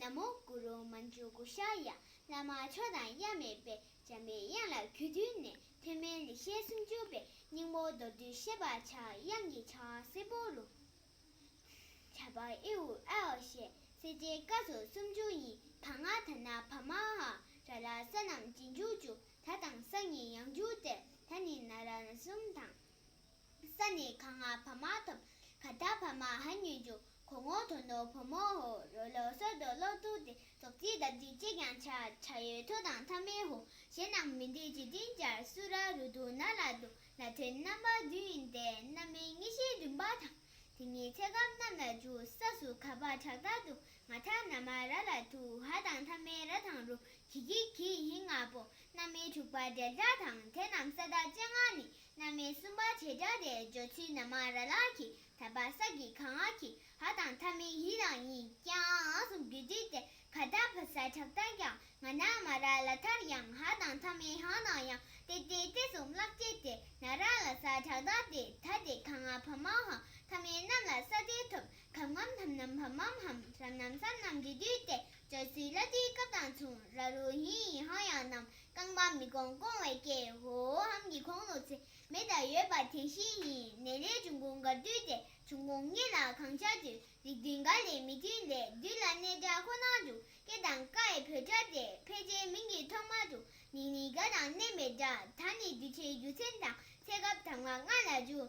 ན་མོ་གུ་རུ་མ་འཇུག་གུ་ཤ་ཡ་བླ་མ་མཆོག་དང་དབྱར་མེད་པའི་འཇམ་པའི་དབྱངས་ལ་གུས་བཏུད་ནས་ཐོན་མའི་ལེགས་བཤད་སུམ་ཅུ་པའི་སྙིང་པོ་མདོར་བསྡུས་བཤད་པ་ཕྱག་དབྱངས་ཀྱི་ཕྱག་སེར་པོ་རུ། བྱ་བ་ཨེ་ཨུ་ཨེ་ཨོ་ཞེས་གསལ་བྱེད་བཀའ་སོགས་སུམ་ཅུ་ཡིན་ད་སྔ་དར་ནག་བ་མ་ཧ་ར་ལ་ས་རྣམས་རྗེས་འཇུག་བཅུ་ད་དང་ས་ཉིད་ཡང་འཇུག་སྟེ་ད་ནི་ན་ར་གསུམ་དང། ས་ནི་གང་ང་བ་མ་ཐོབ། ཁ་ད་བ་མ་ཧ་ཉོན་ཅུ། གོ་ངོ་དོ་ནོ་བོ་མོ་ཧོ། རོ་ལོ་སོ་དོ་ལོ་ཏུ་ཏི། ཙོག་ཙིའི་འདབ་ཙིའི་ཅེ་ཀྱང་ཆ། ཆ་ཡོས་ཐོ་དང་ཐ་མའི་ཧོ། ཞེས་རྣམས་མི་འདི་ཇི་ཏིང་སྦྱར། སུ་ར་རུ་དུ་ན་ལ་དུ། ལ་དོན་རྣམ་པ་བདུན་ཡིན་ཏེ། རྣམ་སྨིན་གཉིས་ཤེས་བདུན་པ་དང། དེ་གཉིས་ཚད་སྐབས་རྣམས་ལ་འཇུག། ས་སུ་ག་བ་ཁྲག་དག་དུ། ང་ཐ་ན་མ་ར་ལ་དུ། ཧ་དང་ཐ་མའི་ར་དང་རུ། གི་གི་གི་ཧིང་ང་པོ། རྣམ་སྨིན་དྲུག་པ་འབྲེལ་སྒྲ་དང། དེ་རྣམས་ས་དག་ཅེ་ང་ནི། གནའ་མི་གསུམ་པ་བྱེ་བྲག་དེ་བརྗོད་ཚུལ་ན་མ་ར་ལགས་ཀྱིས་ད་བར་ས་གི་གངས་ཨ་ཁི་ཧ་དང་ཐ་མི་ཧི་རང་གཉིས་ཀྱང་ཨང་སོ་བརྒྱུད་བྲིས་ཏེ་ཁ་བརྡ་ཕུལ་ས་ཁྲག་རྟགས་ཀྱང་ང་ན་མ་ར་ལ་མཐར་ཡང་ཧ་དང་ཐ་མི་ཧ་ནང་ཡང་ཏེ་ཏེ་ཏེ་གསུམ་བརླག་སྐྱེས་ཏེ་ན་ར་ལ་ས་ཁྲག་རྟགས་དེ་ད་དེ་གངས་ཨ་བྷ་མ་ཧ་ཐ་མི་རྣམས་ལ་ས་དེ་ཐོབ་གམ་ངམ་ཐམ་ནམ་བྷ་མམ་ཧམ་རམ་ནམ་སམ་ནམ་འབྲི་དུས་ཏེ་བརྗོད་ཚུལ་ལ་དུས་སྐབས་དང་མཚུངས་ར་རུ་ཧི་ཡི་ཧང་ཡང་ནམ་རྐང་པ་མི་སྐོང་སྐོང་བའི་སྐད་ཧོ་ཧོ་ཧམ་གྱིས་གོང་ནོར་ཚེ་མེད་དང་ཡོད་པ་དེ་བཞིན་ཉིད་ནད་ལས་འབྱུང་ཁུངས་འགར་བསྡུས་ཏེ་འབྱུང་ཁུངས་ངེས་ལ་གང་ཆགས་དུས་རིགས་བདུན་འགའ་ལས་མི་མཐུན་ལས་བདུན་ལ་གནས་སྒྲ་ཁོ་ནར་འཇུག་སྐད་དང་ཀའི་བོད་སྒྲ་སྟེ་ཕལ་ཆེར་མིང་གི་ཐོག་མ་དུ་ནི་ནི་ག་དང་མནན་པའི་སྒྲ་ད་ནི་བསྡུས་ཁྲིའི་རྒྱུ་མཚན་དང་ཚད་སྐབས་དང་བ་ལྔ་ལ་འཇུག་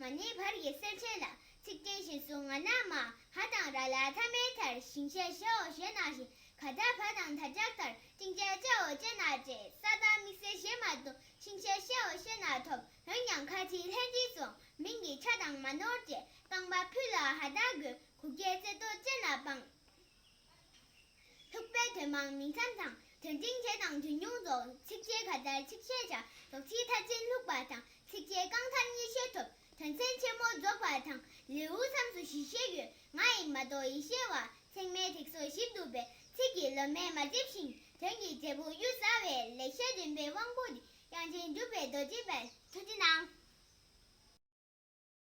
ང་ནི་བར་གྱི་སེར་ཆེན་ལ་ཚིག་བརྟན་བཞིན་བཟུང་ང་ན་མ་ཧ་དང་ར་ལ་ཐ་མའི་མཐར་ཞིང་བཤད་བྱའོ་ཞེས་གནང་ཞིང་ག་ད་བ་དང་ད་ལྕགས་ལྟར་བཅིང་བྱ་བྱའོ་ཅེས་གནང་བཅས་ས་དང་དམིགས་བསལ་བྱེད་མ་བཏུང་ཞིང་བཤད་བྱའོ་ཞེས་གནང་ཐོབ་འོན་ཀྱང་ཁ་ཅིག་ལྷན་ཅིག་སོང་མིན་གྱི་ཆ་དང་མ་ནོར་བཅས་རྐང་པ་ཕུད་ལ་ཧ་ད་གུ་གུ་རྒྱལ་བསད་དོ་ཅེས་ན་སྤངས། ཐུག་པའི་དོན་མང་མིང་ཙམ་དང་དོན་ཏིང་འཛིན་དང་དོན་ཉུང་རྫོགས་ཚིགས་བཅད་ག་དར་ཚིགས་བཅད་བྱ་རྫོགས་ཚིག་མཐའ་ཅན་ལྷུག་པ་དང་ཚིགས་བཅད་རྐང་ཐར་གཉིས་བཤད་ཐོབ་དོན་ཚན་ཆེན་མོ་རྫོགས་པ་དང་ལེའུའི་མཚམས་སུ་བཞི་བཤད་ཡོད་ང་ཡིག་མ་གཏོགས་ཡིད་བཤད་བ་ཚེགས་མའི་ཐིག་སོ་བཞི་འདུག་པས་ཚིག་གི་ལོ་མས་མ་བསྡེབས་ཤིང་དོན་གྱི་འབྲས་བུ་གཡུར་ཟ་བས་ལེགས་བཤད་འདུན་པའི་དབང་པོ་འདི་དབྱངས་ཅན་གྲུབ་པའི་རྡོ་རྗེ་པའི་མཐུ་ལྡན་ཨང།